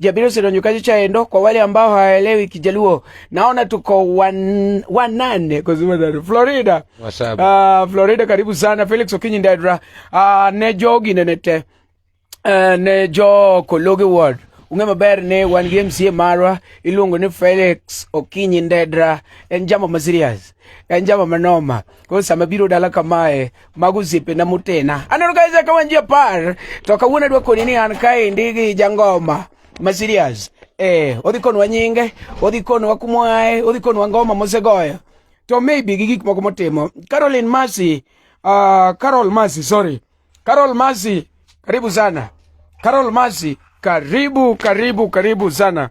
Jabiro Sidonyokaji Chaendo, kwa wale ambao hawaelewi Kijaluo, naona tuko wan, wanane kuzimadhari Florida. Uh, Florida karibu sana Felix Okinyi Ndedra, uh, ah, ne jogi nenete uh, eh, ne jo Kologe Ward ung'e maber ni wan gi MCA marwa iluongo ni Felix Okinyi Ndedra, en jamo ma serious, en jamo manoma. Kwa sama biro dala kamae mago osiepena motena aneno ka isaka wan ji apar to kawuono adwa koni ni an kaendi gi jangoma ma serious eh odhi konwa nyinge odhi konwa kumwae odhi konwa ngoma mosegoyo to maybe gi gik moko motimo Caroline Masi uh, ah, Carol Masi sorry Carol Masi karibu sana Carol Masi karibu karibu karibu sana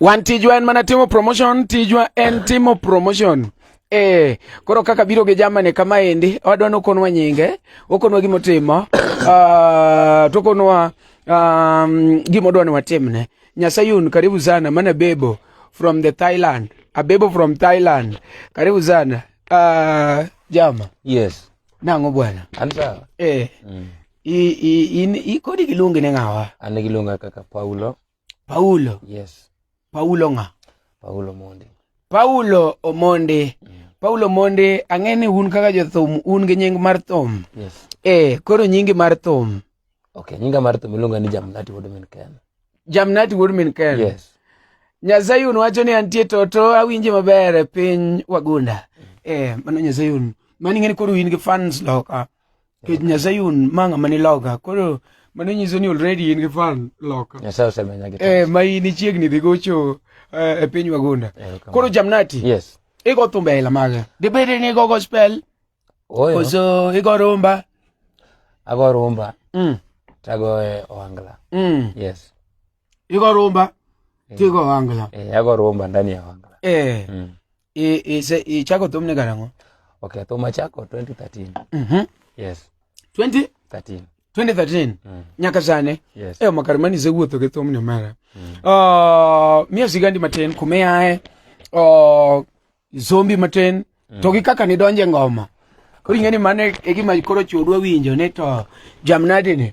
Wan tijwa en mana timo promotion, tijwa en timo promotion. Eh, koro kaka biro gi jamani kama endi, wadwa nokonwa nyinge, okonwa gima otimo, uh, ah, tokonwa um, gima odwa ni watimne. Nyasayun, karibu sana, mana bebo from the Thailand. Abebo from Thailand. Karibu sana. Uh, jama. Yes. Nango bwana. Anza. Eh. Mm. I, i, i, i kodi kilungi ni ngawa. Ani kilunga kaka Paulo. Paulo. Yes. Paulo ng'a? Paulo Mondi. Paulo Omondi. Mm. Paulo Omondi, ang'e ni un kaka jothum un gi nying mar thum. Yes. Eh, koro nyingi mar thum. Okay, nyinga mar thum iluonga ni Jamnati Wuod Min Ken. Jamnati Wuod Min Ken. Yes. Nyasayun wacho ni antie toto awinje maber e piny wagunda. Mm. Eh, mano Nyasayun. Mani ng'e ni koro in gi fans loka. kech nyasaye un ma ng'ama ni loka koro mano nyiso ni already in gi fan loka nyasaye osemenya gi eh ma in chiegni dhi gocho eh, e piny wagunda koro jamnati yes igo thumbe aila mage dibedi ni igo gospel oyo koso igo rumba ago rumba mm. tago e ohangla mm. yes igo rumba eh. tigo ohangla eh, ago rumba ndani ya ohangla eh. mm. ichako thumne karang'o okay thum achako 2013 mm -hmm. yes 20 13 2013 mm. nyaka sane yes. e makar mani sewuotho gi thumne mara mm. uh, miya sigandi matin kumiae uh, zombi matin mm. to gi kaka nidonje ngoma koro ing'e ni mano e gima koro chuodwa winjo ni to jamnadini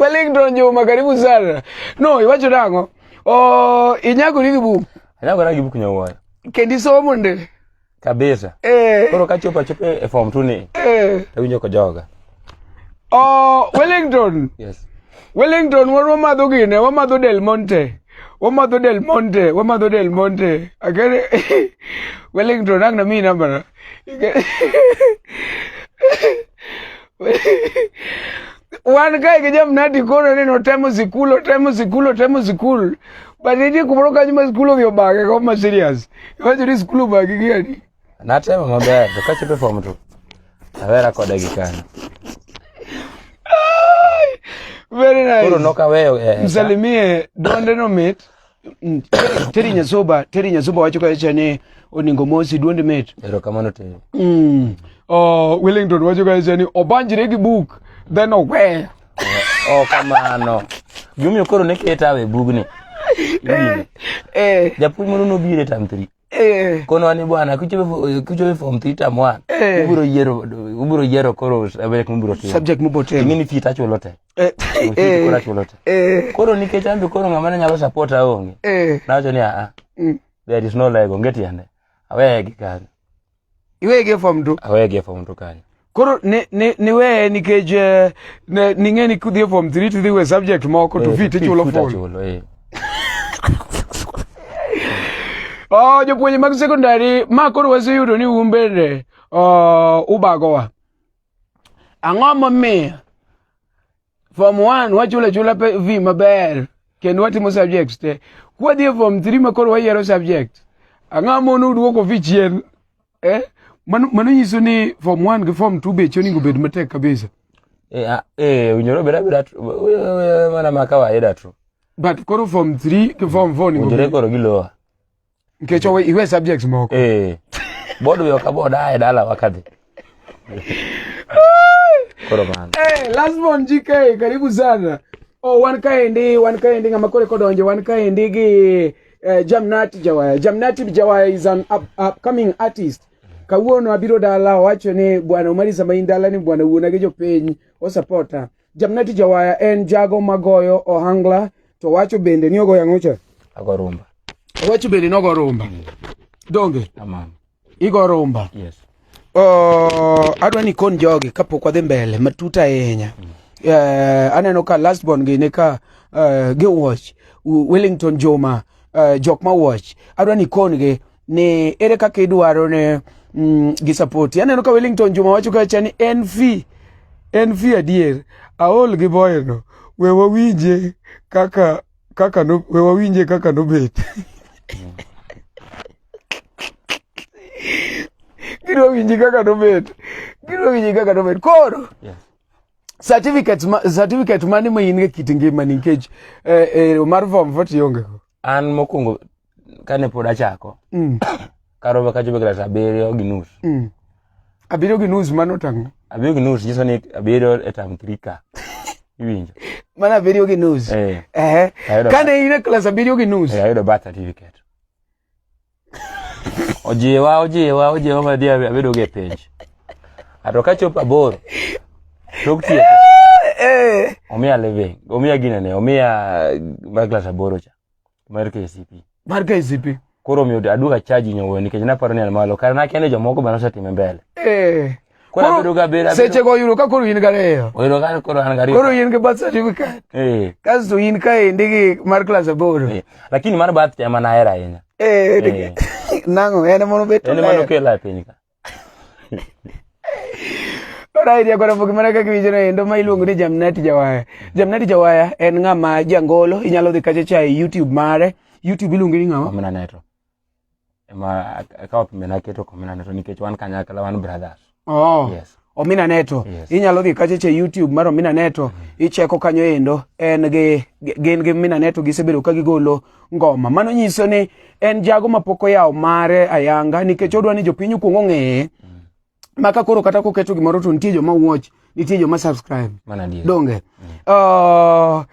Wellington Juma, karibu sana. No, iwacho nango. Oh, inyago ni gibuku. Inyago na gibuku nyawayo. Kendi somo ndele. kabisa eh. koro kachopo achopo e form two ni eh. tawinjo kojoga oh, wellington yes. wellington wan wamadho gine wamadho del monte wamadho del monte wamadho del monte akere wellington ang na mi nambana wan kae gi jamnati kono ni notemo sikul otemo sikul otemo sikul but nitie kumoro kanyo ma sikul odhi obage ko ma serious iwacho ni sikul obagi gi adi natemo maber to kachopo e fom to awera kode gi kanyo very nice koro nokaweyo eh, msalimie donde no mit Mm, teri nyazoba teri nyazoba wacho kacha ni oningo mosi duond met erokamano teri mm. uh, wellington wacho kacha ni obanjre gi buk then oweyo oh, oh, kamano gimomiyo koro ne keta awe bugni eh, eh. japuonj moro nobiro e tam three eh. kono ani bwana kuchobe form three tam one ubiro yiero koro subject mubiro timo ing'eni fita chulo te Eh, eh, eh. koro nikech ambi koro ng'ama ne nyalo support aonge eh. nawacho ni aa mm. there is no like onge tiende awegi kanyo iwegi e fom tu awegi e fom tu kanyo koro niweye nikech eh, ning'e ni kudhi e fom three tidhi we subject moko to fit ichulo fom oh, jopuonje mag secondary ma koro waseyudo ni un bende oh, ubagowa Ang'o momiyo form 1 wachula chula pe vi maber kendo watimo subjects te. Kwadhi e form 3 ma koro wayiero subject. Ang'o mono duoko vi chien? Eh? Mano mano nyiso ni form 1 gi form 2 be choni gobed matek kabisa. Eh, ah, eh, unyoro bera bera tu. Mana makawaida tu. But koro form 3 gi form 4 ni Unyoro koro gilowa. Nikech owe iwe subjects moko. Eh. Bodo yo ka boda ae dala wakadhi. Koro man. Eh, hey, last one GK, karibu sana. Oh, wan kaendi, wan kaendi ng'ama kore kodonjo, wan kaendi gi eh, Jamnati Jawaya. Jamnati Jawaya is an up, upcoming artist. Kawuono abiro dala owacho ni bwana Omari sama in dala ni bwana wuona gi jopiny osapota. Jamneti Jawaya en jago magoyo ohangla to wacho bende ni ogoyo ang'o cha? Ago rumba. Wacho bende ni ogo rumba. Mm. Donge? Aman. Igo rumba. Yes. Oh, adwa ni kon jogi kapok wadhi mbele matut ahinya. Mm. Uh, aneno ka last born gi ne ka uh, eh, gi watch Wellington Joma uh, jok ma watch adwa ni kon gi ni ere kaka idwaro ne mm, gi support aneno ka Wellington Juma wacho kacha ni en fee en fee adier aol gi boyno we wawinje kaka kaka no we wawinje kaka nobet gidwa winji kaka nobet gidwa winji kaka nobet koro yes certificate ma, certificate mane ma in e kit ngima nikech eh, eh, mar form 4 iongego an mokwongo kane pod achako mm. karoba kachopo klas abiriyo gi nus mm. abiriyo gi nus mano tang'o abiriyo gi nus nyiso ni abiriyo e tam three ka iwinjo mana abiriyo gi nus eh. eh. kane in e klas abiriyo gi nus eh, ayudo birth certificate Ojiwa, ojiwa, ojiwa madi abedo gi penj. Ato ka chopo aboro, tok tieko. Eh. Omiya living, omiya ginene, omiya mar klas aboro cha, mar KCP. Mar KCP. Koro omiyo aduoga chaji nyowo nikech naparo ni an malo, kar nakia ni jomoko be nosetime mbele. Eh. seche go yudo ka koro in gariyo koro in gi birth certificate eh. kasto in ka endi gi mar klas aboro eh. lakini mar birth to ema nahero ahinya eh, nang'o en mono betnokela e piny ka Alright, ya kwara fuki mara kaki vijana endo ma iluongo ni Jamnati Jawaya. Jamnati Jawaya en ng'ama jangolo, inyalo dhi kacha cha e YouTube mare. YouTube iluongo ni ng'ama? Omina Network. ema akawo pime naketo komina neto nikech wan kanyakla wan brothers oh. yes. omina neto yes. inyalo dhi kacha che youtube mar omina neto mm. icheko kanyo endo en gi gin gi omina neto gisebedo ka gigolo ngoma mano nyiso ni en jago mapok oyawo mare ayanga nikech odwa ni jopiny okuong ong'eye mm. ma ka koro kata koketo gimoro to nitie joma watch nitie joma subscribe donge mm. uh,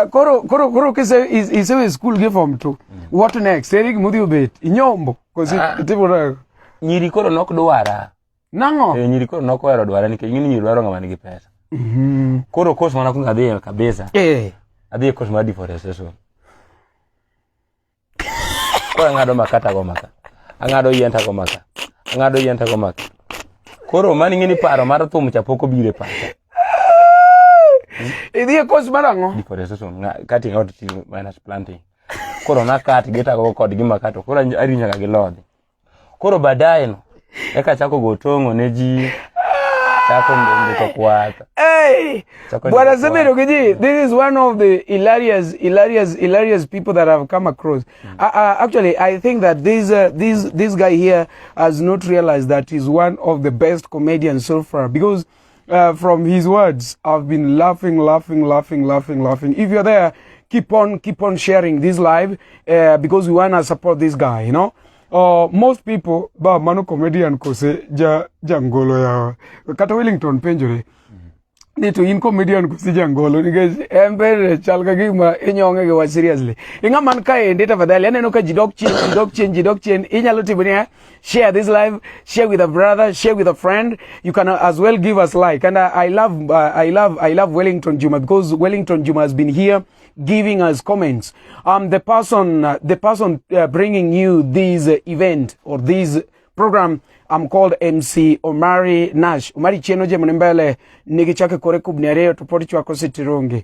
koro koro koro kise isewe school gi form 2 mm. what next eri gima udhi obet inyombo kosi ah. timo nago nyiri koro nok dwara nang'o e, nyiri koro nok ohero dwara nikech ng'ini nyiri dwaro ng'ama nigi pesa mm-hmm. koro course mana kuongo adhiye kabisa eh. adhiye course mar deforestation Koro ang'ado maka tago maka. Ang'ado yien tago maka. Ang'ado yien tago maka. Koro mani ng'ini paro mar thum cha pok obiro e pacha. Idhi e course mar ang'o? Deforestation, cutting out trees minus planting. Koro nakat gitago kod gi makato. Koro ari nyaka gi lodhi. koro baadaye no eka chako gotongo ne ji chako ndiko kwata hey bwana semero kiji this is one of the hilarious hilarious hilarious people that have come across mm. uh, uh, actually i think that this uh, this this guy here has not realized that he's one of the best comedians so far because uh, from his words. I've been laughing, laughing, laughing, laughing, laughing. If you're there, keep on, keep on sharing this live uh, because we want to support this guy, you know. Uh, most people ba mano comedian kose ja jangolo ya kata Wellington penjore ni to in comedian kose jangolo nikech en bende chal ka gima inyonge gi wach seriously ing'a man kaendi tafadhali aneno ka ji dok chien ji dok chien ji dok chien inyalo timo niya share this live share with a brother share with a friend you can as well give us like and i, I love uh, i love i love wellington juma because wellington juma has been here giving us comments um the person uh, the person uh, bringing you this uh, event or this program I'm called MC Omari Nash Omari Chieno je mnembele nigi chake kore kubni ariyo to podi chwako sitirungi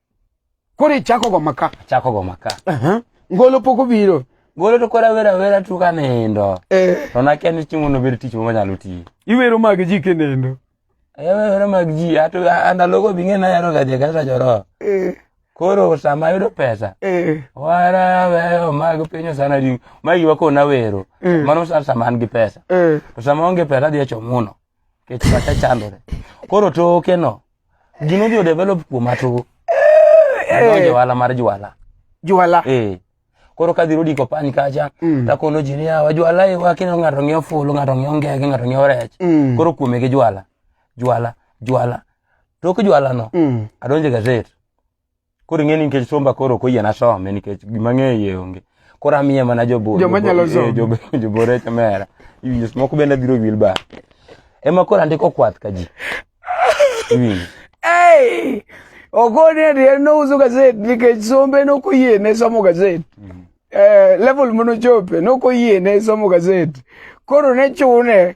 Koro ichako go maka. Chako go maka. Aha. Ngolo pok obiro. Ngolo to kora wera wera tu ka nindo. Eh. To na ken chiemo no ber tich mo nyalo ti. Iwero mag ji ke nindo. Eh wero mag ji ato anda logo binge na yaro ga je ga sa joro. Eh. Koro sama yudo pesa. Eh. Wara weyo mag pinyo sana di. Magi wako na wero. Eh. Mano sa sama an gi pesa. Eh. To sama onge pesa dhi achomuno. kech pacha chandore koro toke no gino odhi odevelop kuom atuo adonjo ohala mar jwala jwala eh koro kadhi rudi kopany kacha Mm. takono ji niya wajwala e wakino ng'ato ng'iewo fulu ng'ato ng'iewo ngege ng'ato ng'iewo rech Mm. koro kuome gi jwala jwala jwala tok jwalano Mm. adonjo e gazet Koro ing'e ni nikech somba koro ok oyiena some nikech gima ng'eyo iye onge. Koro amiye mana jobor. Joma nyalo somo. Eh, jobo- Jobor e kamera. Iwinjo seche moko bende adhiro gi wheelbarrow. Ema koro andiko kwath ka ji. Iwinjo. Hey! Ogone ni en nouso gazet nikech sombe nok oyiene somo gazet. Eh, level manochope nok oyiene somo gazet. Koro ne chune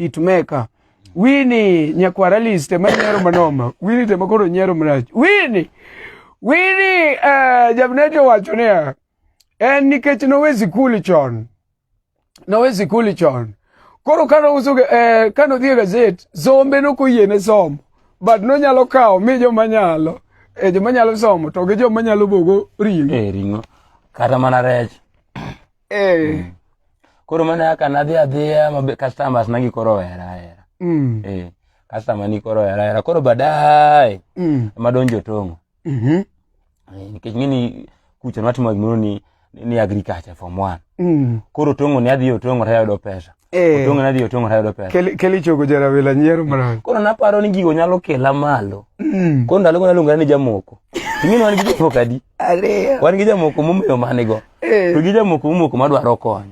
hitmaker wini nyakwara list ema nyiero manoma wini tema koro nyiero marach wini wini uh, eh, jabnete owacho niya en nikech nowe sikul chon nowe sikul chon koro kane ouso uh, eh, kane odhi e gazet sombe nokoyiene somo but nonyalo kawo mi joma nyalo e joma nyalo somo to gi joma nyalo bogo ring'o e ring'o kata mana rech Eh. Mm. Koro mana yaka nadhi adhiya mabe customers nangi koro wera wera. Mm. Eh. Customer ni koro wera wera. Koro baadaye mm. madonjo tongo. Mhm. Mm eh, nikech ngini kucho natimo gimoro ni ni agriculture form 1. Mm. Koro tongo ni adhiyo tongo tayudo pesa. Eh. Otonga nadhi otonga tayudo pesa. Kel kel ichogo jarawila nyiero mara. Koro naparo ni gigo nyalo kela malo. Mm. Koro ndalo gona luonga ni jamoko. Ing'e wan gi jamoko adi? Ariyo. Wan gi jamoko momeyo mane go. Eh. To gi jamoko momoko madwaro kony.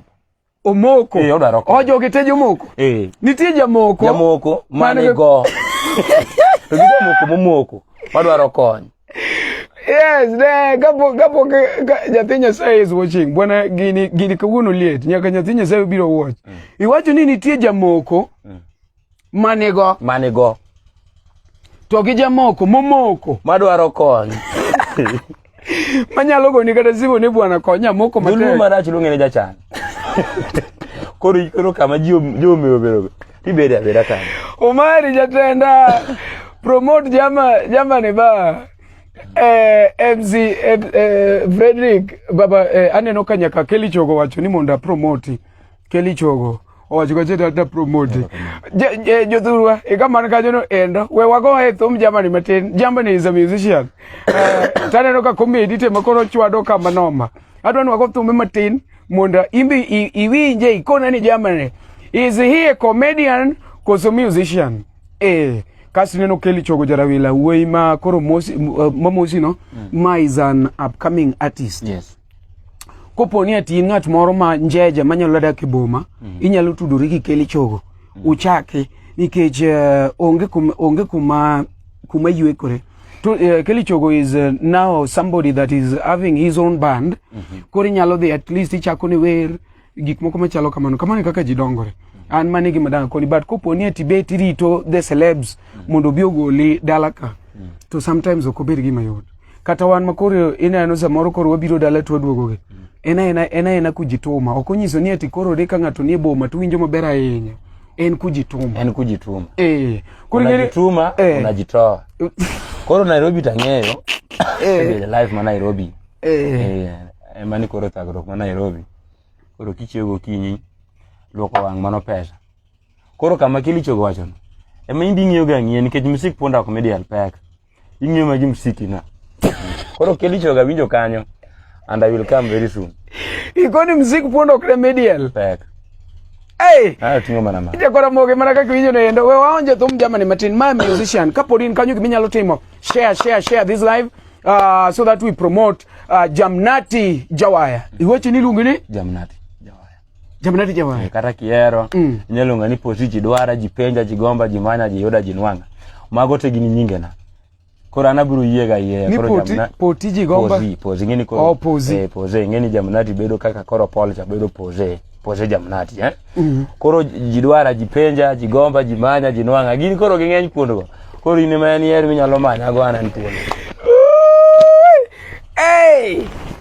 Omoko. Eh, odwaro kony. Ojo gite jomoko. Eh. Nitie jamoko. Jamoko mane go. to gi jamoko momoko madwaro kony. Yes, ne, kapo kapo ka nyathi Nyasaye is watching. Bwana gini gini kawuono liet. Nyaka nyathi Nyasaye biro watch. Mm. Iwacho ni nitie jamoko mm. manigo manigo to gi jamoko momoko madwaro kony manyalo goni kata simu ni bwana konya moko matek. Dulu marach lungene jachan. Koro koro kama jio jio mewe berobe. Ibere abera kana. Omari jatenda promote jama jama ne ba eh, MC eh, eh, Frederick baba eh, aneno ka nyaka Kelly Chogo wacho ni mondo promote Kelly Chogo owacho ka cheta ta promote eh, jothurwa ikamano e kanyo no endo we wago e thum jamani matin jamani is a musician eh, taneno ka comedy tema koro chwado kama noma adwa ni wago thume matin mondo imbi iwinje ikona ni jamani is he a comedian koso musician eh kasi neno keli chogo jarawila wuoyi ma koro mosi uh, mamosi no mm. ma is an upcoming artist yes kopo ni ati ng'at moro ma njeja manyalo dak e boma mm. inyalo tudori gi keli chogo mm. uchake nikech uh, onge kuma onge kuma kuma yuekore to, uh, eh, Kelly Chogo is uh, now somebody that is having his own band mm -hmm. koro inyalo dhi at least ichako ni wer gik moko machalo kamano kamano e kaka ji dongore an mane gima danga koni but kopo ni e tibet irito the celebs mm -hmm. mondo obi ogoli dala ka mm -hmm. to sometimes ok obed gima yot kata wan makoro ineno samoro koro wabiro dala to waduogogi mm -hmm. en aena en aena kujituma ok onyiso ni ati koro ri ka ng'ato nie boma to winjo maber ahinya en kujituma en kujituma eh kujituma eh. unajitoa koro Nairobi tang'eyo eh life ma Nairobi eh, eh emani koro thagruok ma Nairobi koro kichiew gokinyi luoko wang' mano pesa koro kama kilichogo wachono ema inding'iyo ga ng'ie nikech musik punda ok midi alpek Ing'eyo magi msiki na. Koro keli choga winjo kanyo and I will come very soon. Ikoni msiki pondo kre medial. Pek. Hey! Ah, tingo mana ma. Ite kora moge mana kaka winjo nendo. We waonje thum jamani matin. My musician. Kapodi in kanyo giminyalo timo. Share, share, share this live. Uh, so that we promote uh, Jamnati Jawaya. Iweche niluongi ni? Jamnati. Jamna ti jawa. Eh, kata kiero mm. inyalo ng'a ni poti ji dwara ji penja ji gomba ji manya ji yoda ji nwanga mago te gini nyinge na koro ana biro yie ga yie koro poti, jamna poti ji gomba pozi pozi ngeni koro oh, pozi eh, pozi ngeni jamna ti bedo kaka koro pol cha bedo pozi pozi jamna ti eh mm -hmm. koro ji dwara ji penja ji gomba ji manya ji nwanga gini koro ging'eny kuondo go koro in ema en yer minyalo manya go ana ntiere hey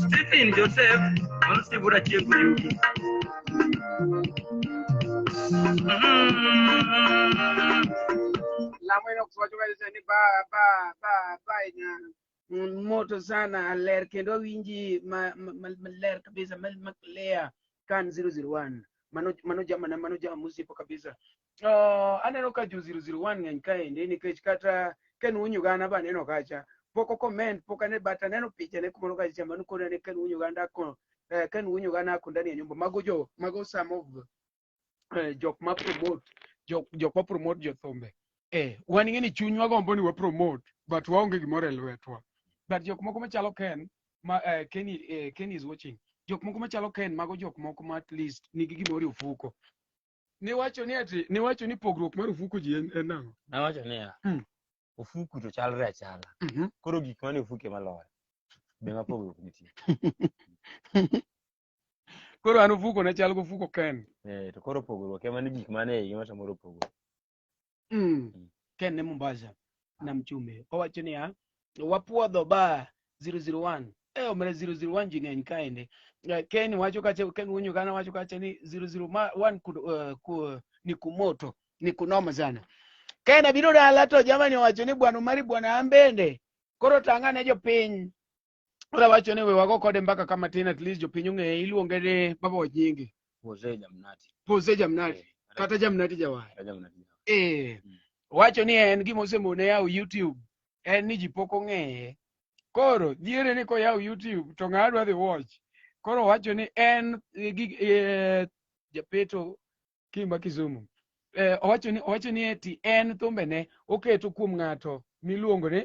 Stephen Joseph mano sibura chiego yugi. Lamo ino kwacho kabisa ni ba ba ba ba ina moto sana aler kendo awinji ma ma- ma- maler kabisa ma ma clear kan 001 mano mano jama na mano jama musipo kabisa Uh, aneno ka jo 001 ng'eny kaendi nikech kata Ken Unyugana ba aneno kacha pok okoment pok ane but aneno pichane kumoro kacha mano koro ane Ken Unyuganda ako eh, Ken Unyugana ako ndani ya nyumba mago jo mago some of eh, jok ma promote jok jok ma promote jo thumbe eh wan ng'e ni chunywa gombo ni wa promote but waonge gimoro e lwetwa but jok moko machalo Ken ma eh, Ken eh, Ken is watching jok moko machalo Ken mago jok moko ma at least nigi gimoro e ofuko Niwacho ni ati, niwacho ni pogruok mar ofuku ji en en nang'o? Nawacho niya, Mm. ofuku to chalre achala. Mhm. Koro gik mane ofuke maloyo. Be ma pogruok nitie. Koro an ofuko na chal gofuko Ken. Eh, to koro pogruok ema ni gik mane e iye ma samoro pogruok. mm. ken ne mombasa nam chumbe owacho niya wapuodho ba 001 e omre 001 ji ng'eny kaende Eh, ken wacho kacha ken wuonyo kana wacho kacha ni 001 ku, uh, ku, ni kumoto ni kunoma sana ken abiro dala to jamani owacho ni bwana umari bwana an bende koro tang'ane jopiny Ora wacho ni we wago kode mbaka kama tin at least jopiny ong'eye iluonge ni baba wajingi. Jose Jamnati. Jose Jamnati. Eh, Kata Jamnati Jawar. Kata Jamnati. Eh. Mm. Wacho ni en gima osemone yawo YouTube en ni ji pok ong'eye. Koro dhiere ni koyawo YouTube to ng'a dwa dhi watch. Koro wacho ni en eh, gi- eh, japeto Kimba Kisumu. Eh, owacho ni owacho ni eti en thumbene oketo kuom ng'ato miluongo ni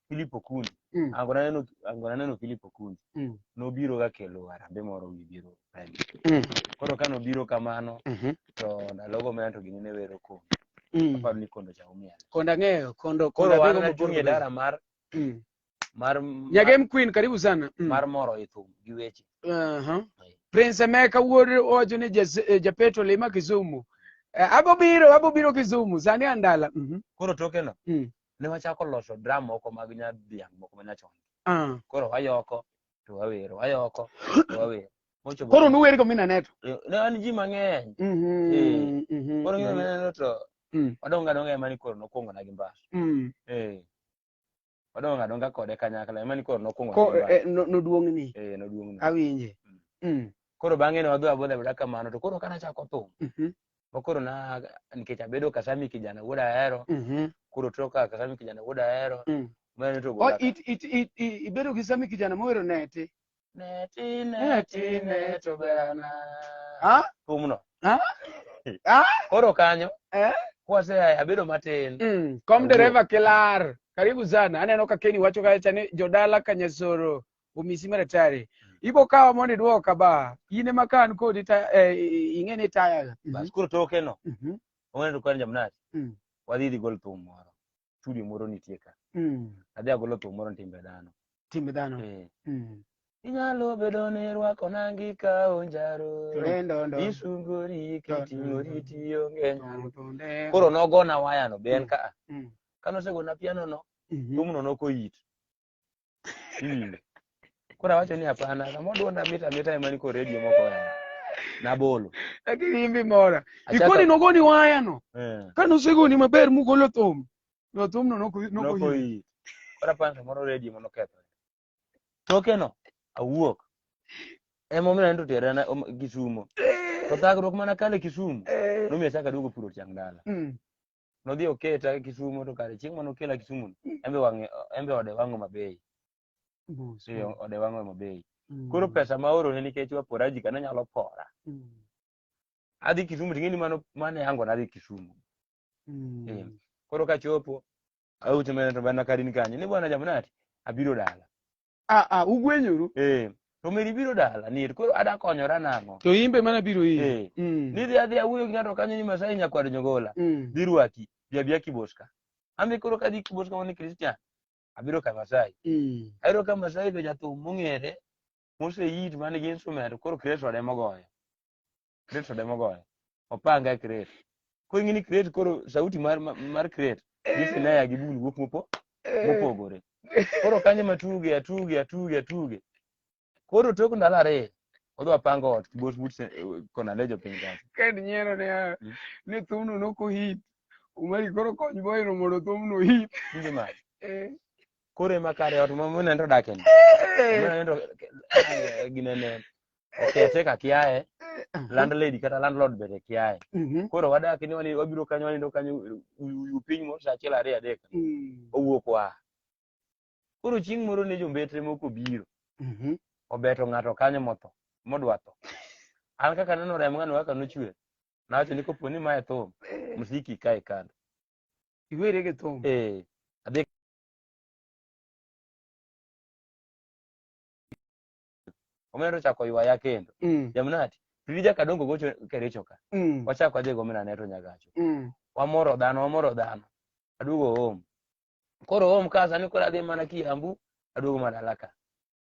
Philip Okundi. Mm. Ango naneno ango naneno Philip Okundi. Mm. Nobiro ga kelo harambe moro wi biro rally. Mm. Koro ka nobiro kamano Mhm. to ndalogo me anto gini ne wero ko. Mm. Aparo ni kondo cha umiel. Kondo ang'eyo, kondo kondo Koro wan abiro nachung' e mabor. dara mar Mm. mar Nyagem Queen karibu sana. Mm. mar moro e thum gi weche. Aha. Prince Emeka wuod owacho ni jas- eh, japeto lima Kisumu. Eh, Abobiro, abobiro Kisumu, sani andala. Mhm. Koro tokeno Mm. ne wachako loso drum moko mag nyadhiang' moko ma nyachon. Ah. Koro wayoko to wawero, wayoko to wawero. Mochopo Koro nuwer go minaneto. ne wan ji mang'eny. Mhm. Eh. Mhm. Koro ng'eyo maneno to Mm. wadonga donga ema ni koro nokwongo na gi mbas. Mm. Eh. Wadonga donga kode kanyakla ema ni koro nokwongo na Ko gi mbas. eh, no- noduong'ni. Eh, noduong'na. Awinje. Mm. Mm. koro bang'e ne wadhi wagodho abeda kamano to koro kana chako thum Mhm. makoro na nikech abedo kasami kijana wuod ahero Mhm. koro toka kasami kijana wuod ahero Mm. mane O, togola it, it, it, i- ibedo gi sami kijana mohero neti neti neti neto berana Ah? thumno Ah? Ah? koro kanyo Eh? kwase abedo matin Mm. kom Awuo. dereva kilar karibu sana aneno ka keni wacho kacha ni jodala kanyasoro omisi mere tari ibo kawa mondo idwoka ba in ema ka an kodi ta- eh, i- ing'e ni tayaga bas koro toke no Mhm. ongedo kwan jamnati Mm. wadhi dhi gol thum moro studio moro nitie ka Mm. adhi agolo thum moro ni timbe dhano timbe dhano Eh. Mm. inyalo bedo ni rwako nangi ka onjaro Lendondo. isungori kiting'ori tionge nyalo Tonde. koro nogona wayano be en Mm. ka Mm. kanosegona pianono Mm. thumno nokoyit Mm. Koro awacho ni hapana, kama oduon amita amita ema niko radio moko ya. Nabolo. Lakini imbi mora. Achako- Ikoni nogoni waya no. Eh. Ka nosegoni maber mugolo thum. No thum no noko noko Noko hii. hii. Koro aparo ni samoro radio mano ketho. Tokeno awuok. Ema omiyo anto tera na om- Kisumo. To thagruok mana kale Kisumo. Eh. Nomiyo achako aduogo puro tiang' dala. Mm. nodhi oketa kisumo to kare chieng' mane okela kisumo no, embe wang'e embe ode wang'o mabei Mos, Ee, mos. ode wang'o mabei Mm. koro pesa ma orone nikech waporaji kana nyalo pora Mm. adhi kisumu ting'eni mano mane yango nadhi kisumu Mm. Ee. koro kachopo aucho mene to bana karin kanyo ni bwana jamunati abiro dala Ah, ah, ugwenyoru. Eh. To meri biro dala nir koro ada konyora nang'o? To imbe mana biro iri. Eh. Mm. Nidhi adhi awuoyo gi ng'ato kanyo ni Masai nyakwar Nyogola. Mm. Dhi rwaki. Bi abia Kiboska. Ambe koro kadhi Kiboska wani Christian. Abiro ka Masai. Mm. Ayudo ka Masai be jathum mong'ere moseyit man gi instrument koro Kristo ode mogoyo. crate to demo goyo opanga e crate koro ing'e ni crate koro sauti mar ma- mar crate gi snare gi bul wuok mopo mopogore koro kanyo ma tuge atuge atuge atuge koro tok ndalo ariyo odwa pango ot kibos but kona lejo piny kanyo kend nyiero ne ah, Mm. ni thumno nokohit umari koro kony boyno mondo thumno hit Winjo ma Eh, koro ema kare ot ma muneno to dakeni eh, muneno to ginene okete ka kiaye landlady kata landlord bende kiaye Mhm. koro wadak ni wani wabiro kanyo wanindo kanyo uyu piny moro saa achiel ariyo adek Mm. owuok wa koro chieng' moro ne jombetre moko obiro Mhm. obeto ng'ato kanyo motho modwa tho an kaka neno remo ng'ano kaka nochwer nawacho ni kopo ni mae thum msiki kae kando Iwere gi thum. eh adhi omena nochako ywaya kendo Mm. jamnati pirija kadongo gocho kericho ka Mm. wachako adhi gomena ne to nyagacho Mm. wamoro dhano wamoro dhano aduogo home koro home ka sani koro adhi mana kiambu aduogo mana dala ka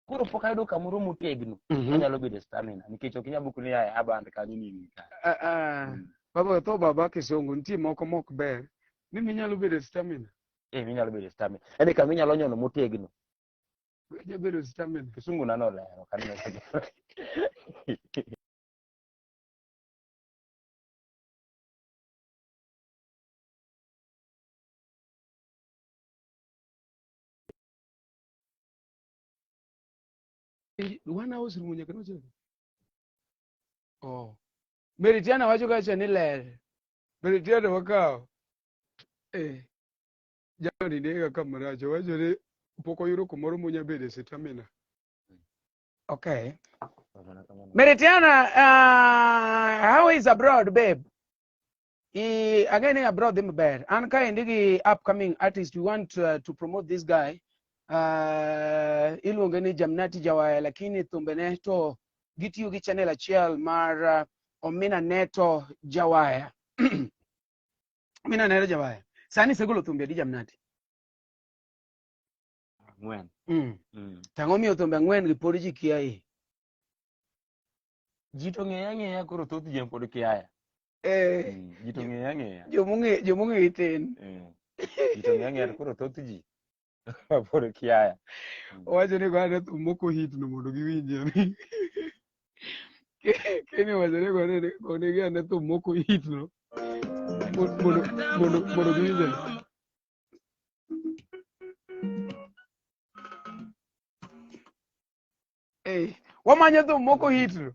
koro pok ayudo kamoro motegno Mhm. anyalo bedo stamina nikech ok inyal bukni a aband kanyo ni ing'i ka Ah, ah. Mm. Baba tho baba kisungu nitie moko mok ber ni minyalo bedo stamina. eh minyalo bedo stamina yani kama inyalo nyono motegno Weche bedo stamina. Kisungu nano lero kan na sigi. Wana house room nyaka no chego. Oh. Meritiana wacho kacha ni ler. Meritiana wakawo. Eh. jamani nega ka marach owacho ni pok oyudo kumoro monya bedo e sitamina okay meritiana uh, how is abroad babe I, again i brought them bad and kind the upcoming artist we want uh, to promote this guy uh, iluonge ni jamnati jawaya lakini thumbene to gitiyo gi channel achiel mar uh, omina neto jawaya mina nahera jabaya sani segolo thumbe adi jamnati ang'wen mm. mm. tang'o miyo thumbe ang'wen gi pod ji kia i ji to ng'eya ng'eya koro thoth ji pod kiaya eh, mm. ji to ng'eya ng'eya jomong'e jomong'e itin eh. ji to ng'eya ng'eya to koro thoth ji pod kiaya owacho ni gone thum moko hit no mondo giwinje ni kini wacho ni gone gone gane thum moko hit no mo- mondo mondo mondo giwinje ni eh wamanyo thum moko hit no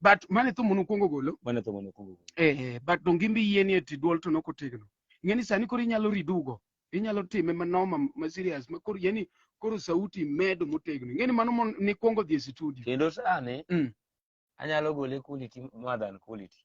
but mane thum mono kwongo golo mane thum mono kwongo golo eh, eh but donge imbi yie ni eti duol to nok otegno ing'e ni sani koro inyalo ridugo inyalo time manoma ma serious ma koro yani koro sauti medo motegno ing'e ni mano ni kwongo dhi e studio kendo sani mm. anyalo gole quality more than quality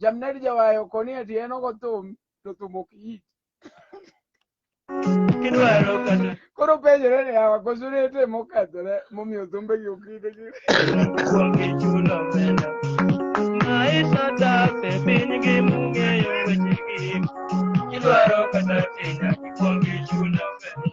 Jamned jawayo koni ati en ogo thum to thum ok it. Kidwaro kata Koro penjore ni awa koso rete mokethore momiyo thumbe gi ok it. kuong ichulo omenda. Maisha tape piny gi mung'eyo weche gi. Kidwaro kata tinya kuong ichulo omenda.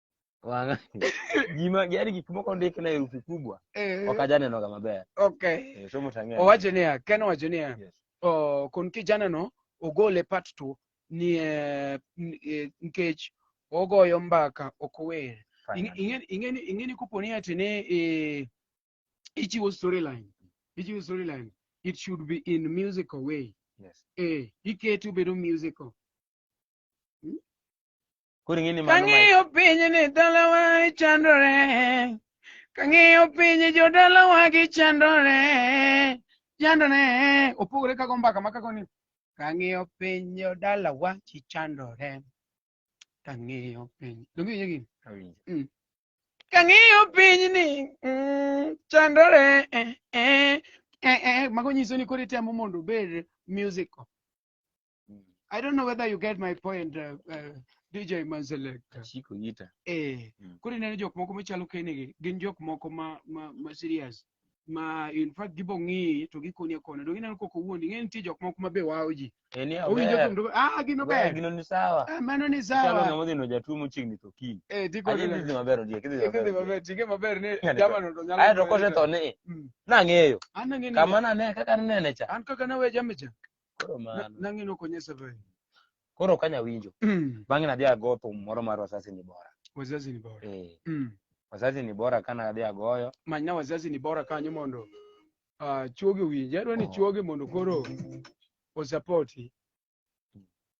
Wanga. Gima yani gik moko ndik na herufi kubwa. Eh, Ok ajane noga maber. okay Eh, somo tang'e. owacho niya ken owacho niya Yes. o, kon kijanano ogole part two ni eh, n- eh, nikech ogoyo mbaka ok ower Fine. Ing'e- ing'e- ing'eni ing'eni kopo ni ati ni eh, ichiwo storyline ichiwo storyline it should be in musical way Yes. eh iketi obedo musical Koro ing'e ni mano ma- Kang'iyo piny ni dalawa chandore, kang'iyo piny jodalawa gichandore, chandore. Opogore kago mbaka ma kago ni kang'iyo piny jodalawa chichandore, kang'iyo piny. Donge iwinjo gini? Awinjo. Mm. Kang'iyo piny ni mm, chandore, eh, eh, eh, eh. Mago nyiso ni koro itemo mondo obed musical. I don't know whether you get my point, uh, uh, DJ Manzelek. Chiko yita. Eh, mm. kuri nene jok moko machalo kenigi, gin jok moko ma, ma, ma serious. Ma in fact gibo ng'i to gikoni akona. Dongi neno koko wuondi, ng'e nitie jok moko mabe wao ji. Eni eh, awer. Owinjo ah, gino ber. Gino ni sawa. Ah, mano ni sawa. Chalo ng'amo dhino jatuo mochiegni to kiny. Eh, diko ni. Adhi maber odie, kidhi maber. Kidhi maber, chike maber ni jama no nyalo. Ayo to kose to ni. Mm. Nang'eyo. An nang'eyo. Kama nane kaka nene cha. An kaka nawe jamicha. Koro Na- mano. Nang'e ni ok onyesa bhai. Koro ok anyal winjo. Mm. Bang'e nadhi ago thum moro mar Wazazi ni Bora. Wazazi ni bora. Eh, Mm. Wazazi ni Bora ka nadhi agoyo. Manyna wazazi ni bora kanyo mondo ah, chuoge owinje. Adwa ni Oh. chuoge mondo koro osapoti.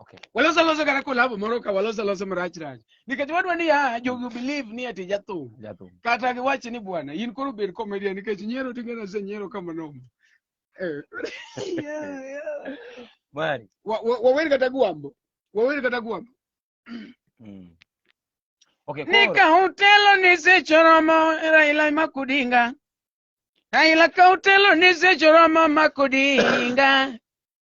Okay. Waloso loso kata kolabo moro ka waloso loso marach rach. Nikech wadwa ni ah jogi believe ni ati jathum. Jathum. Kata giwach ni bwana in koro bed comedian nikech nyiero tinge na se nyiero kama nomo. Eh. Yeah, yeah. Mari. Wa- wa- Wawer kata gwambo. Wawer kata gwambo. Mm. Okay, koro. Nika utelo ni se choromo Raila makudinga. Raila ka utelo ni se choromo makudinga.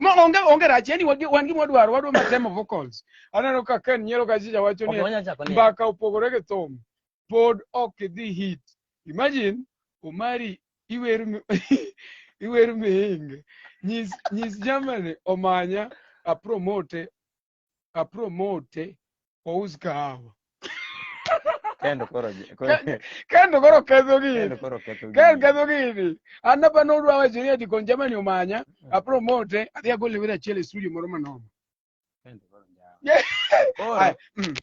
Ma onge onge rach yani wagi- wan gima wadwaro wadwa ma temo vocals. Aneno ka Ken nyiero ka chicha wacho Ok, ni wanyalo chako ni- mbaka opogore gi thum pod ok idhi hit. Imagine Omari iwer mi- iwer mihinge. Nyis nyis Germany omanya a promote a promote ous kahawa Kendo koro je- koro Ke- kendo koro ketho gini kendo koro ketho Kel gini. ketho gini. An apa nodwa wacho ni ati kon jamani omanya, a promote, adhi agol leweda achiel e studio moro manoma. Kendo koro njawa. Yeah. Koro Ai, mm,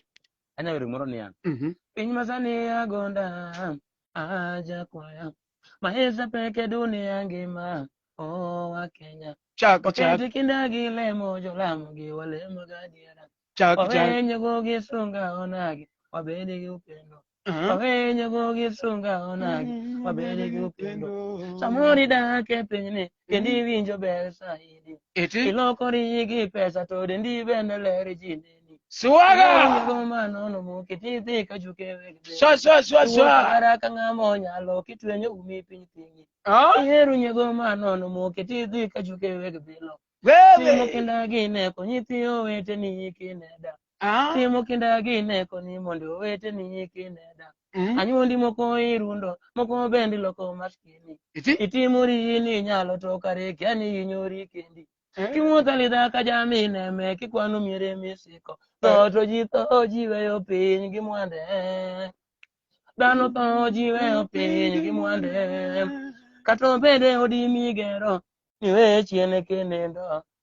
anyalo wero moro niya. mhm. Piny masani agonda aja kwaya Maisha peke dunia ngima oh wa Kenya chak chak Wakati kindagi lemo jolamo gi walemo gadiera chak chak Wawenyo go gi sunga onagi wabede gi upendo Mhm. Wawenyo go gi sunga onagi wabede gi upendo Samori dak e pinyni kendo iwinjo ber saidi Iti. ilokori yigi pesa to dendi bende ler ji neni Siwaga. Iwinjo manono moki tidhi ka juke wegde Swa swa swa Iwuok swa. kara ka ng'ama onyalo kitwenyo umi piny thingi Ah. ihero nyego manono moki tidhi ka juke weg bilo timo Wewe. kinda gine konyithi oweteni kineda Ah, Timo kinda gine koni mondo owete ni kineda. mm. Anyuondi moko irundo, moko bendi loko maskini. Iti? Itimori ni inyalo to kare kia ni inyori kendi. Eh. Kimuotho lidha ka jami neme kikwano miere misiko. Tho to ji tho ji weyo piny gi mwande. Dhano tho ji weyo piny gi mwande. Kata obede odi migero, niwe chien kinendo.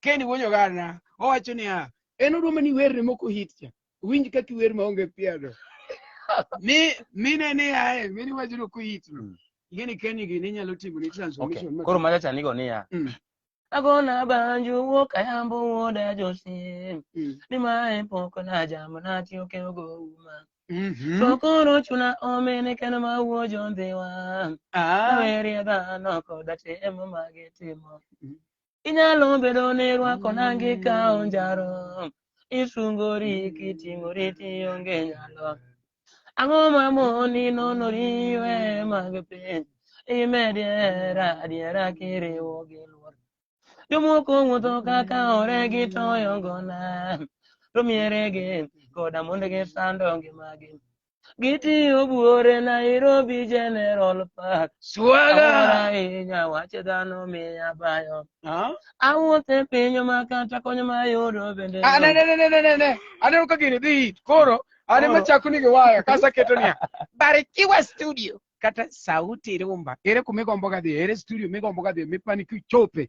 Ken wuonyo gana owacho niya en oduma ni werne moko hit cha winj kaka iwer maonge piado mi mine ni ae mini wacho ni kuhit no Mm. ing'e ni Ken gini inyalo timo ni okay transformation ma- koro machacha nigo niya Mm. agona banjo wuok ayambo wuoda josim Mm. ni mae pok najamo natiyo keogo uma Mhm. to koro chuna omene kendo mawuo jondhiwa Ah. aweri dhano koda temo mage timo Mm. inyalo bedo ni rwako nangi ka onjaro isungori kiting'ori tionge nyalo ang'o mamoni nonori we mag piny imed hera adiera kiriwo gi luor jomoko wuotho kaka ore gi toyo ngona to mieregi koda mondegi sando ngimagi Gitiyo buore Nairobi General Park. Swaga. Awara inya wache dhano miya bayo. Ah. Awuothe piny ma kata kony ma yudo bende. Ah, ne, ne, ne, ne, ne, ne. Aneno ka gini dhi hit. Koro, ane Koro. machako ni giwaya, kasa keto niya. Barikiwa studio. Kata sauti rumba. Ere kumigombo gadhi, ere studio migombo gadhi, mipani kichope.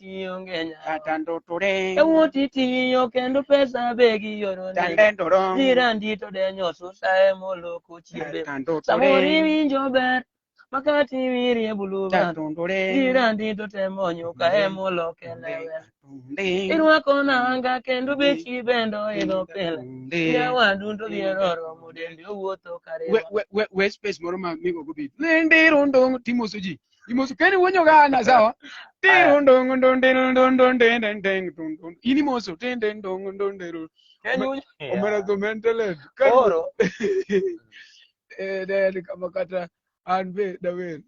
tionge nya. kata ndotore Ewuti tiyo kendo pesa be giyorone. tande ndoro Jirandi to denyo susa emoloko chiembe. kata Samoro ndotore iwinjo ber makati wirie buluba. kata ndotore Jirandi to temo nyuka emoloke lewe. Irwako nanga kendo bechi bende oidho pile. Nyawadu to biero romo dendi owuotho kare. we space moro ma migo go bit lindiro ndong timoso ji Imoso keni uonyo gana sawa. Tiro ndongo ndondero ndondon den den ndondon. Ini moso den den ndongo ndondero. Kenya unyo. Omera to mentaled. Koro. Eh dad kama kata an be dawer.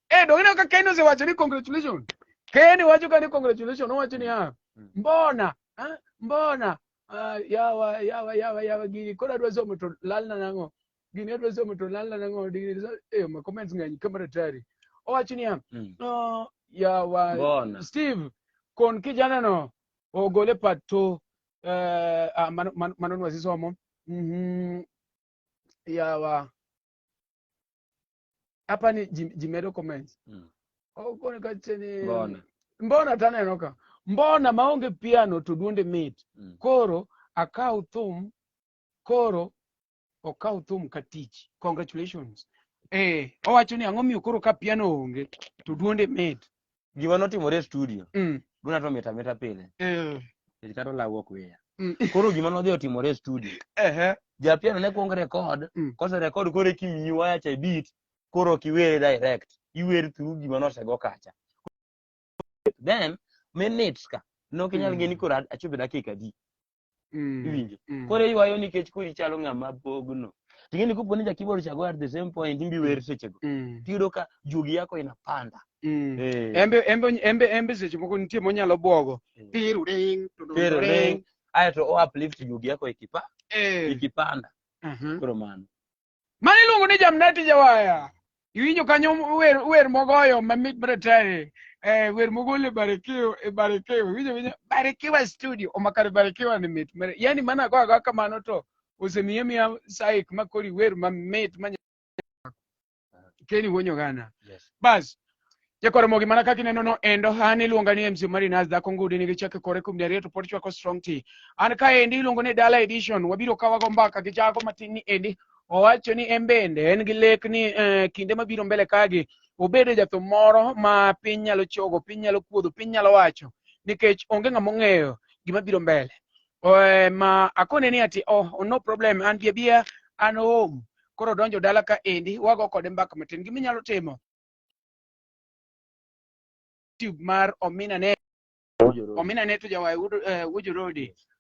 Eh dogina ka Keni osewacho ni congratulations. Keni wacho ka ni congratulations owacho ni ah hmm. mbona ah mbona ah yawa yawa yawa yawa gini koro adwa somo to lalna nang'o. gini adwa somo to lal lal ang'o digni so- eh ma comments ng'eny kamera tari owacho niya Mm. no yawa Mbona? steve kon kijana no ogole pato eh ah, mano mano- mano ni wasisomo mhm yawa hapa ni ji- jimedo comments Mm. ogone kacheni Mbona? mbona taneno ka mbona maonge piano to duonde mit Mm. koro akaw thum koro okaw thum ka tich congratulations eh owacho ni ang'o miyo koro ka piano onge to duonde med gima notimore e studio mm. duna to mita mita pile eh. nikech kata olaw ok weya mm. koro gima nodhi otimore e studio ehe japiano ne kuong record Mm. kose record koro ekiwinyi waya cha e beat koro ok iwere direct iwer through gima nosego kacha then minutes ka nok inyal ng'e ni koro a- achopo e dakika adi Mm. iwinjo Mm. koro iywayo nikech koro ichalo ng'ama bogno ting'eni kopo ni jakibor chago at the same point imbi wer sechego Mm. tiyudo ka juogi yako inapanda Mm. Eh. Embe embe embe embe seche moko nitie monyalo bwogo. Mm. Piru ring. to do- Piru ring. ring. aeto o uplift juogi yako ikipa Eh. ikipanda Mhm. koro mano Mano iluongo ni Jamnati Jawaya. Iwinjo kanyo wer, wer mogoyo mamit maratari. Eh, wer mogol e Barikiwa, e Barikiwa. Iwinjo winjo Barikiwa studio. Omakare Barikiwa ni mit. Mare- Yaani mana go agoya kamano to osemiye miya saik makori wer mamit ma Kenny Wonyogana. Yes. Bas, Jakoromogi mana kaka ineno no endo han iluonga ni MC Marinas dhako ngudi nigi chake kore kuom dariyo to pod chwako strong tea. An ka endi iluongo ni Dala Edition wabiro kawago mbaka gi jago matin ni endi owacho ni en bende en gi lek ni eh, kinde mabiro mbele kagi obedo jathum moro ma piny nyalo chogo, piny nyalo kuodho, piny nyalo wacho nikech onge ng'ama ong'eyo gima biro mbele. Eh, ma akone ni ati oh no problem an bia bia an home koro donjo dala ka endi wago kode mbaka matin giminyalo timo YouTube mar Omina Neto. Omina Neto jawaye Wood, uh, Wood Road.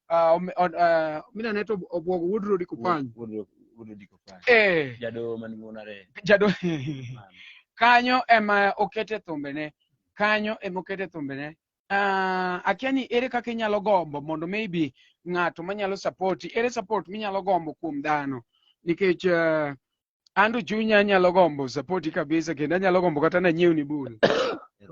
Uh, om- on- uh, Omina Neto obwogo Wood Road Kupany. Eh, Jado man ngunare. jado kanyo ema okete thumbene. Kanyo ema okete thumbene. Uh, akia ni ere kaka inyalo gombo mondo maybe ng'ato manyalo support ere support minyalo gombo kuom dhano nikech uh, an to chunya anyalo gombo sapoti kabisa kendo anyalo gombo kata nanyiewni bul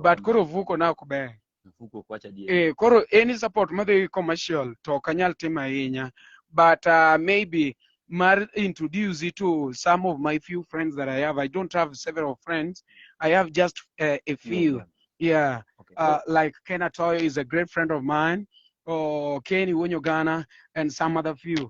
but koro vuko na ok ber Mfuko kwacha die. eh, koro any support madhi commercial to ok anyal timo ahinya but uh, maybe mar introduce it to some of my few friends that i have i don't have several friends i have just uh, a few yeah Okay. uh, like Ken Atoyo is a great friend of mine, or Kenny Wonyogana, and some other few.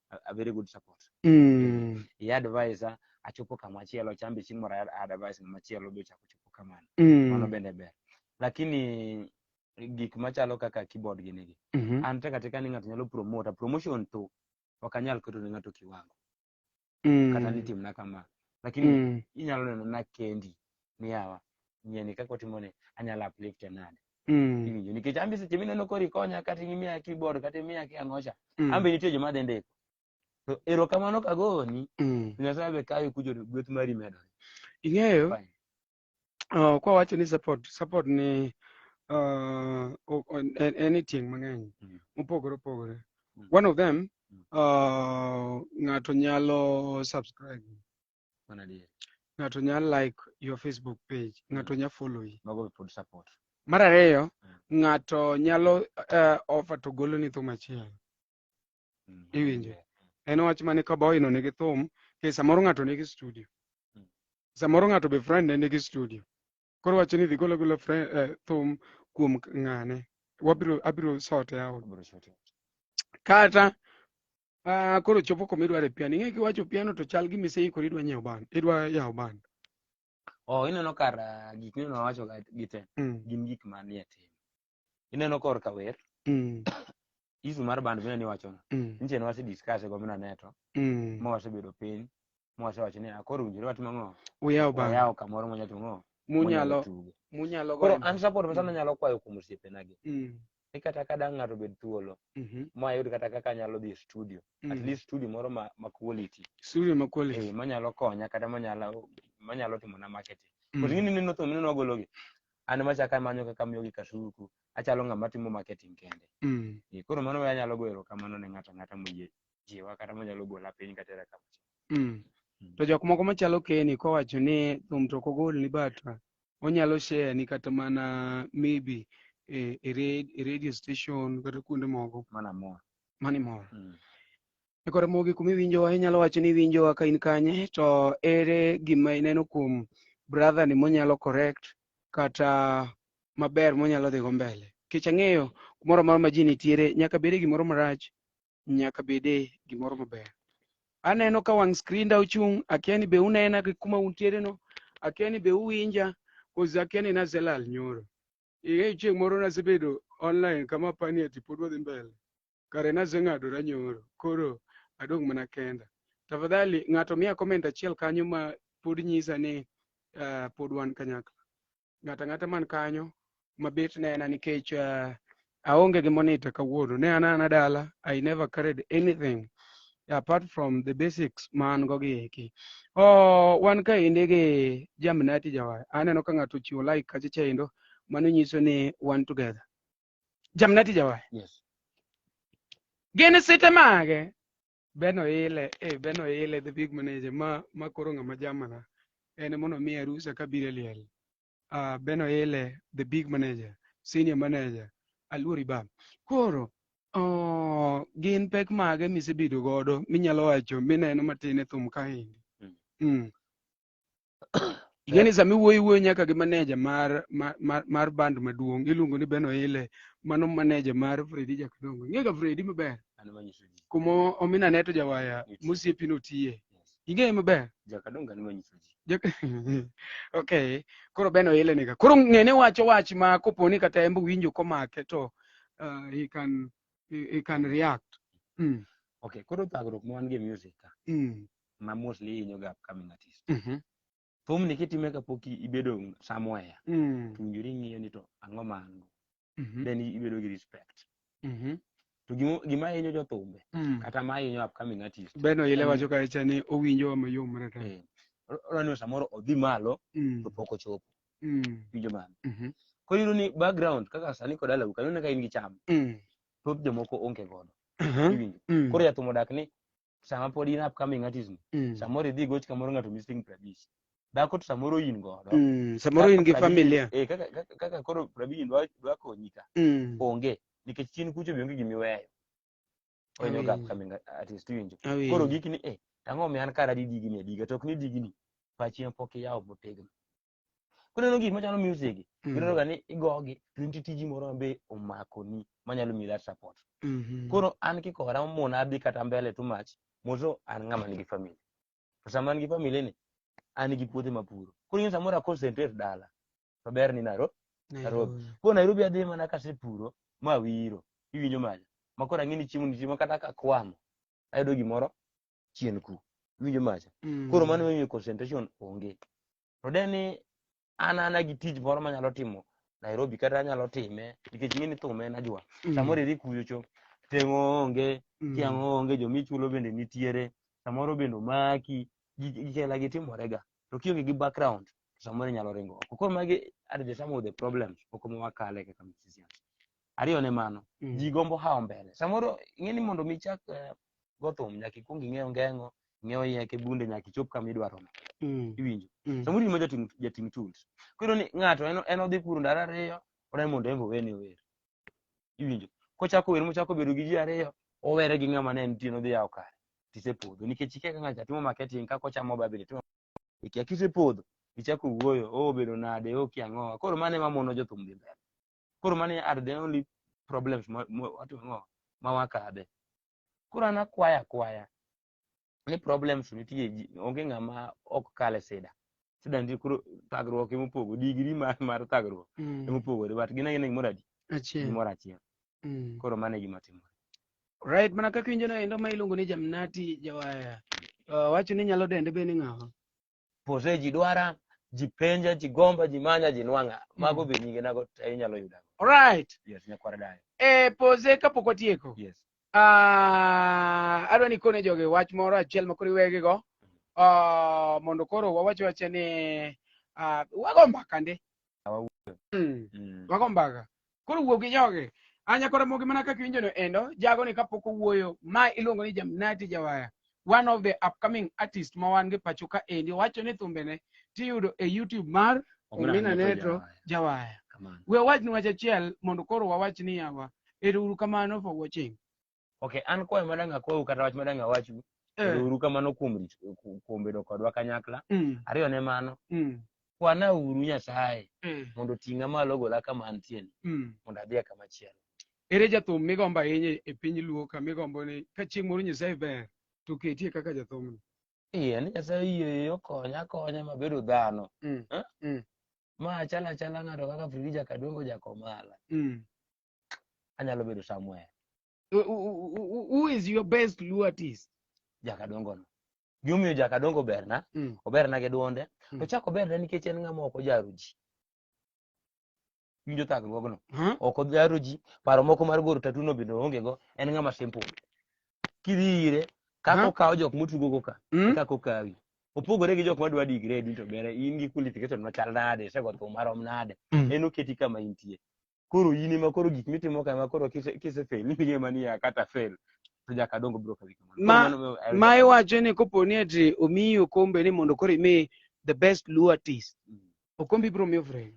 a, a very good support Mm. i advise a- achopo kama chielo chambe chieng' moro a- advise ng'ama chielo be ochako chopo kamano mano Mm. bende ber lakini gik machalo kaka keyboard gini gi Mhm. an tek atika ni ng'ato nyalo promota promotion to ok anyal keto ne ng'ato kiwango kata ni Mm. timna kama lakini Mm. inyalo neno na kendi ni yawa nyieni kaka otimoni anyalo uplifte nade Mm. iwinjo nikech an be seche mineno koro ikonya kata imiya keyboard kata imiya ki ang'ocha Mm. an be nitie joma dhi ndiko to erokamano kagoni Mm. to nyasaye be kawe kucho to gweth mari medore Ing'eyo Fine. uh, kwa wacho ni support support ni uh, o- o- en, en e tieng' mang'eny Mm. mopogore opogore Mm. one of them Mm. uh, ng'ato nyalo subscribe Mana adier. ng'ato nya like your facebook page ng'ato nya follow yi Mago be pod support. mar ariyo Mm. ng'ato nyalo uh, offer to golo ni thum achiel Mm. Iwinjo. en wach mane ka boyno nigi thum ke samoro ng'ato nigi studio Mm. samoro ng'ato be friend ne nigi studio koro wacho ni dhi golo golo fre- eh, thum kuom k- ng'ane wabiro abiro sote out Abiro sote. kata ah, koro chopo koma idware piano ing'e kiwacho piano to chal gi miseikori idwa nyiewo band idwa yawo band Oh, ineno kar ah, gik mineno wacho ga- gi te mm. gin gik manie tim. ineno kor ka wer Mm. isu mar band bende niwachono Mm. nche nwase discuss e gomna neto Mm. ma wasebedo piny ma wasewacho ni akoro winjore watimo ng'o Uyaw bang. wayawo kamoro mwanya timo ng'o Munyalo tugo munyalo koro goyo. an support Mm. masana nyalo kwayo kuom osiepena gi Mm. ni kata ka dang' ng'ato bed thuolo Mhm. ma ayud kata kaka anyalo dhi e studio at Mm. least studio moro ma, ma quality Studio ma quality. eh, manyalo konya kata manyalo manyalo timona marketing Mm. mm. ing'eni neno thum neno wagologi an machaka amanyo kaka amiyogi kasuku achalo ng'ama timo marketing kende Mm. Eh, koro mano we anyalo goyo erokamano ne ng'ato ang'ata moyie jiwa kata monyalo gola piny katera kama Mm. Mm. To jok moko machalo Kenny kowacho ni thum to ok ogol ni but uh, onyalo share ni kata mana maybe e, e, re- e radio station kata kuonde moko mana mor mani mor. Mm. E kor mogi kuma iwinjowa, inyalo wacho ni iwinjowa ka in kanye, to ere gima ineno kuom brother ni monyalo correct kata maber monyalo dhigo mbele? Nikech ang'eyo kumoro amora ma ji nitiere, nyaka bede gimoro marach, nyaka bede gimoro maber. Aneno ka wang' skrinda ochung', akia ni be unena gi kuma untiere no, akia ni be uwinja, koz akia ni naselal nyoro. Ing'eyo chieng' moro nasebedo online kama apani ati pod wadhi mbele. kare naseng'adora nyoro koro adong' mana kenda tafadhali ng'ato miya comment achiel kanyo ma pod nyisa ni uh, pod wan kanyakla ng'ata ng'ata man kanyo mabet nena nikech uh, aonge gi monita kawuono ne an ana dala i never carried anything apart from the basics ma an go gi eki oh, wan kaendi gi jamnati jawar aneno ka ng'ato ochiwo like kacha chaendo mano nyiso ni wan together jamnati jawaye yes gin site mage beno ile e beno ile the big manager ma ma koro ng'ama jamana en mono mi arusa ka bire liel uh, beno ile the big manager senior manager aluori ba koro oh, gin pek mage misebedo godo minyalo wacho mineno matin e thum kaendi Mm. mm. Igeni sama iwuoyo iwuoyo nyaka gi maneja mar mar- mar mar band maduong' iluongo ni Ben Oile mano maneja mar Fredi Jakadongo. Ing'ega Fredi maber An ema nyiso ji. kuma omina neto jawaya Nitie. mosiepi notiye. Ing'eye maber. Jakadongo an ema nyiso ji. Jak- okay koro Ben Oile niga. Koro ng'ene wacho wach ma kopo ni kata en be winjo komake to uh, he can he, he can react. Mm. Okay, koro thagruok ma wan go e music ka. Mm. ma mostly hinyo ga upcoming artist Mhm. thumni kitime kapok i- ibedo somewhere Mm. to winjori ng'iyo ni to ang'o ma an go Mhm. then i- ibedo gi respect Mhm. to gimo- gima hinyo jothumbe Mm. kata ma hinyo upcoming artist Beno ile Mm. wacho kacha ni owinjo mayom rata. eh, ro- ro ni samoro odhi malo Mm. to pok ochopo Mm. winjo mano Mhm. koro iyudo ni background kaka sani kod alawu kanyo ne ka in gi cham Mm. thoth jomoko onge godo Mhm. iwinjo Mm. koro jathum odak ni sama pod in upcoming artist ni Mm. samoro idhi goch kamoro ng'ato missing pradish dhako to samoro in godo Mm. samoro in gi Pradish- familia eh, kaka, kaka, kaka koro pradish dwa, dwa konyi ka Mm. onge nikech chien kucho be onge gimiweyo onyo ga Awinjo. upcoming artist iwinjo koro Awinjo. gikni eh ang'o mi an kara di digni adiga to ok ni digni pachi ma pok iyawo motegno kuneno gik machalo music Mm. ineno ga ni igogi to nitie tiji moro mabe omakoni manyalo miyi that support Mhm. koro an kikora omona adhi kata mbele too much moto an ng'ama nigi family to sama an gi family ni an gi puothe mapuro koro in samoro aconcentrate dala to ber ni naro Nairobi. koro nairobi adhi mana kasepuro ma wiro iwinjo mali makoro ang'e ni chiemo nitie ma kata kakwamo ayudo gimoro chien ku iwinjo macha Mm. koro mano miyo concentration onge to de ni an ana gi tich moro manyalo timo Nairobi kata anyalo time nikech ing'e ni thum en ajwa Mm. samoro idhi kuyo cho teng'o onge Mm. tiang' onge jomichulo bende nitiere samoro bende omaki gi- gi- gichela gi timorega to kionge gi background to samoro inyalo ringo oko koro magi are the some of the problems moko ma wakale kaka musicians ariyo ne mano Mm. ji gombo hawo mbele samoro ing'e ni mondo mi ichak eh, go thum nyaka ikwong ing'e ongengo ing'e oyeke bunde nyaka ichop kama idwaro no Mm. iwinjo Mm. samoro in ma jating jating tut koro ni ng'ato en en odhi kuro ndalo ariyo ona ni mondo en be owene ower iwinjo kochako wer mochako bedo gi ji ariyo owere gi ng'ama ne nitie nodhi yawo kare tisepodho nikech ikia ka ng'ato timo marketing kaka ochamo babili timo ikia kisepodho ichako wuoyo o bedo nade o kia ng'owa koro mano ema mono jothum dhi mbele koro mani are the only problems ma ma- watu- ma- ma wakadhe koro an akwaya akwaya ni problems nitie ji- onge ng'ama ok kale sida sida nitie koro thagruok emopogo digri mar, mar thagruok Mm. emopogore but gin agina gimoro adi Achiel. gimoro achiel Mm. koro mano e gima timore Right, mana kaka injo no endo ma iluongo ni Jamnati Jawaya. Uh, wacho ni nyalo dende be ni ng'awa. pose ji dwara ji penja ji gomba ji manya ji nwang'a mago be nyinge nago te inyalo yuda alright yes nyakwara dayo e pose kapok watieko yes Ah, adwa ni kone jogi wach moro achiel ma koro iwegigo Ah, mondo koro wawach wache ni ah, wago mbaka ndi wawuoyo Mm. Mm. Wago mbaka. Koro wuo gi jogi. Anya koro mogi mana kaka iwinjono endo, jago ni kapok owuoyo, ma iluongo ni Jamnati Jawaya. One of the upcoming artist ma wan gi pacho ka endi wacho ni thumbene tiyudo e YouTube mar Omina Neto Jawaya. Kamano. We wach ni wach achiel mondo koro wawach ni yawa. Ero uru kamano for watching. ok an kwayo madang' akwau kata wach madang' awachu Eh. kendo uru kamano kuom rit- ku- kuom bedo kodwa kanyakla Mm. ariyo ne mano Mm. kwana uru nyasaye Eh. mondo oting'a malo ogola kama antieni Mm. mondo adhiye kama chielo ere jathum migombo ahinya e piny luo ka migombo ni ka chieng' moro nyasaye ber to ketie kaka jathumno iye ni nyasaye yie okonya akonya mabedo dhano Mm. Eh? Mm. ma achal achala ng'ato kaka frija kadongo jakomala Mm. anyalo bedo somewhere Who- who- who- who is your best luo artist jakadongo no gimomiyo jakadongo oberna Mm. oberna gi dwonde to Mm. chak oberna nikech en ng'ama ok ojaro ji winjo thagruogno Huh? ok ojaro ji paro moko mar goro tatuno bende oonge go en ng'ama simple kidhi ire kaka Aha. okawo jok motugogo ka Mm? kaka okawi opogore gi jok madwa digre duto bere in gi qualification machal nade isego thum marom nade Mm. en oketi kama intie koro in ema koro gik mitimo kama koro kise kise fail ni ng'e mani ya kata fail to jaka dongo bro kadhi kamano Ma- Koro mano- I- ma iwacho ni kopo ni ati omiyi okombe ni mondo koro imi the best luo artist Mm. okombe ibiro miyo fred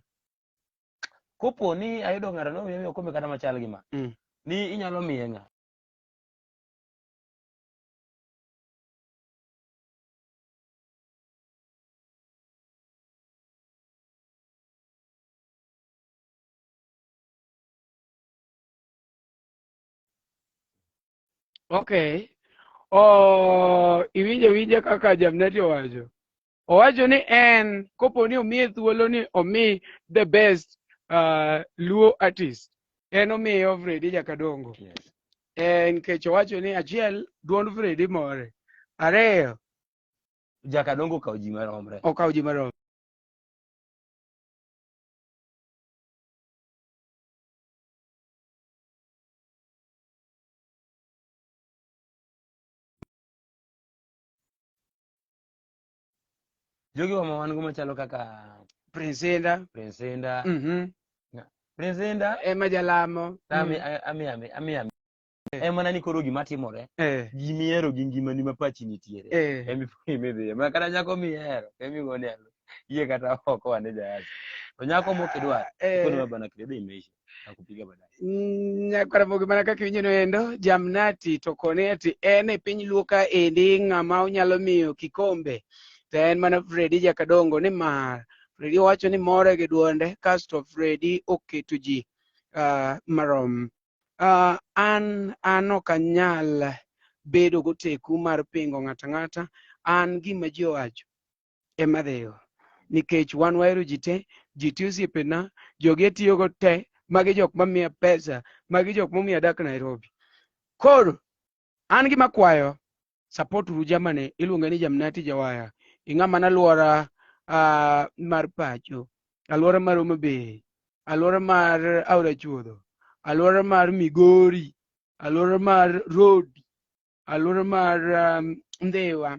kopo ni ayudo ng'ato no miyo okombe kata machal gi ma Mm. ni inyalo miye ng'a Okay. Oh, iwinjo winje kaka Jamneti owacho. Owacho ni en kopo ni omiye thuolo ni omi the best uh, Luo artist. En omiyo Fredi Jakadongo. Yes. En kech owacho ni achiel duond Fredi more. Ariyo Jakadongo okawo ji maromre. okawo ji marom. jogi wa ma wan go machalo kaka Prince Inda. Prince Inda Mhm. Prince Inda Emma Jalamo. ami Mhm. ami ami ami ami Eh. en mana ni koro gima timore eh, gimihero gi ngimani ma pachi nitiere eh. emi imidhiye ma kata nyako mihero emi gone alo iye kata oko wane jayasi to nyako mokidwar Eh. ikonwa bana kredo imeisha nakupiga baadaye Mm, nyakwaramogi mana kaka iwinjono endo jamnati to kone ati en e piny luo ka endi ng'ama onyalo miyo kikombe to en mana fredi jakadongo nimar fredi owacho ni more gi dwonde kasto fredi oketo ji ah, marom Uh, an an ok anyal bedo goteku mar pingo ng'ata ng'ata an gima ji owacho ema dhigo nikech wan wahero ji te ji te osiepena jogi atiyogo te magi jok mamiya pesa magi jok momiyo adak nairobi koro An gima kwayo support uru jamani iluonge ni Jamnati Jawaya. Ing'ama na luora uh, mar pacho, aluora mar Homa Bay, aluora mar Aora Chuodho, aluora mar Migori, aluora mar Rodi, aluora mar um, Ndhiwa,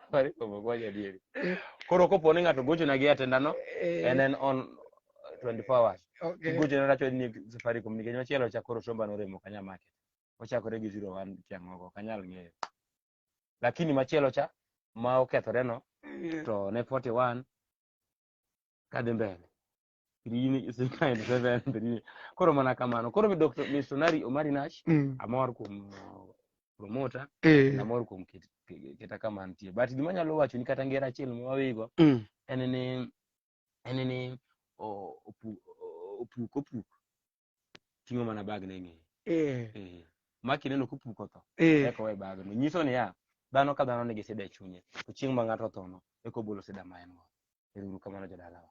Safaricom ok wach adieri. Koro kopo ni ng'ato gochona gi Airtel ndano, Eh, en en on 24 hours. okay. Kigochona racho ni Safaricom nikech machielo cha koro somba noremo kanya market. Ochakore gi 01 tiang' oko, ok anyal ng'eyo. Lakini machielo cha ma okethoreno Yeah. to ne 41 kadhi mbele. Birini is a kind of seven birini. Koro mana kamano. Koro mi Dr. Missionary Omari Nash Mm. amor kuom uh, promoter Eh. amor kuom ket- ke- keta kama nitie. But gima anyalo wacho ni kata ngera achiel ma wawigo Mm. en ni en ni o- opu- o- opuk opuk ting'o mana bag ne ng'eye eh, Eh, ma kineno kupuko tho eh, eka owe bagno nyiso niya dhano ka dhano nigi sida e chunye to chieng' ma ng'ato othono eka obolo sida ma en go ero uru kamano jodalawa